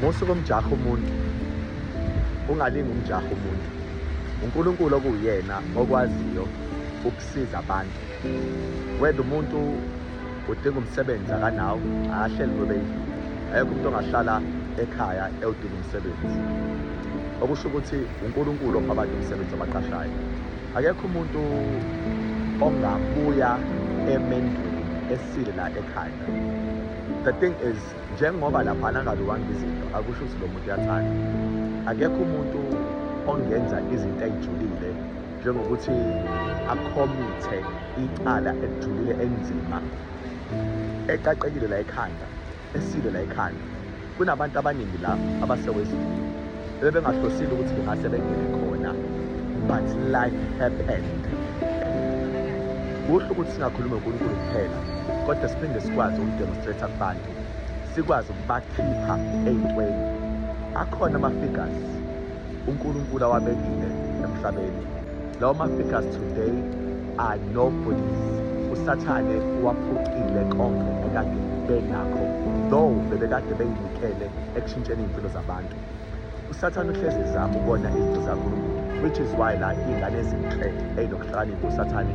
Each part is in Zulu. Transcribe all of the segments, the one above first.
musuke umjaha umuntu ungalingi umjaha umuntu unkulunkulu okuwuyena okwaziyo ukusiza abantu wenda umuntu udinga umsebenzi akanawo akahleli kube ayekho umuntu ongahlala ekhaya ewudinga umsebenzi okusho ukuthi unkulunkulu opha abantu umsebenzi abaqashayo akekho umuntu ongabuya emendweni esile la ekhaya the thing is njengoba laphana angabiwanga izinto akusho ukuthi lo muntu uyathanda akekho umuntu ongenza izinto ayijulile njengokuthi akhomithe icala elijulile enzima eqaqekile la ekhanda esile la ekhanda kunabantu abaningi la abasewezini bebengahlosile ukuthi bengase bengene khona but life happened kuhle ukuthi singakhulumi unkulunkulu kuphela kodwa siphinde sikwazi ukudemonstrate abantu sikwazi ukubakhipha ey'ntweni akhona ama-figures unkulunkulu awabekile emhlabeni lawo ma-figures today are nobodies usathane waphucile konke ekade benakho though bebekade beyinikele ekushintsheni iy'mpilo zabantu usathane uhlezi ezama ukona izinto zankulunkulu which is why la iy'ngane ezinhle ey'nokuhlakanipha usathane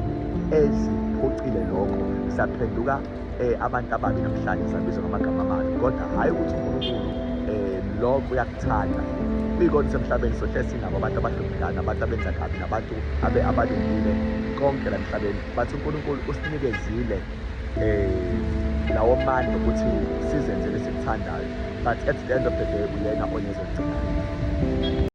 eziphucile lokho zaphenduka um abantu ababi namhlanje zabizwa ngamagama amabi kodwa hhayi ukuthi unkulunkulu um lokho uyakuthanda kuyikona usemhlabeni sohle sinabo abantu abahluphekana abantu abenza kabi nabantu abalungile konke la mhlabeni bathi unkulunkulu usinikezile um lawo manje ukuthi sizenze lesikuthandayo but at the end of the day uyena onezogcina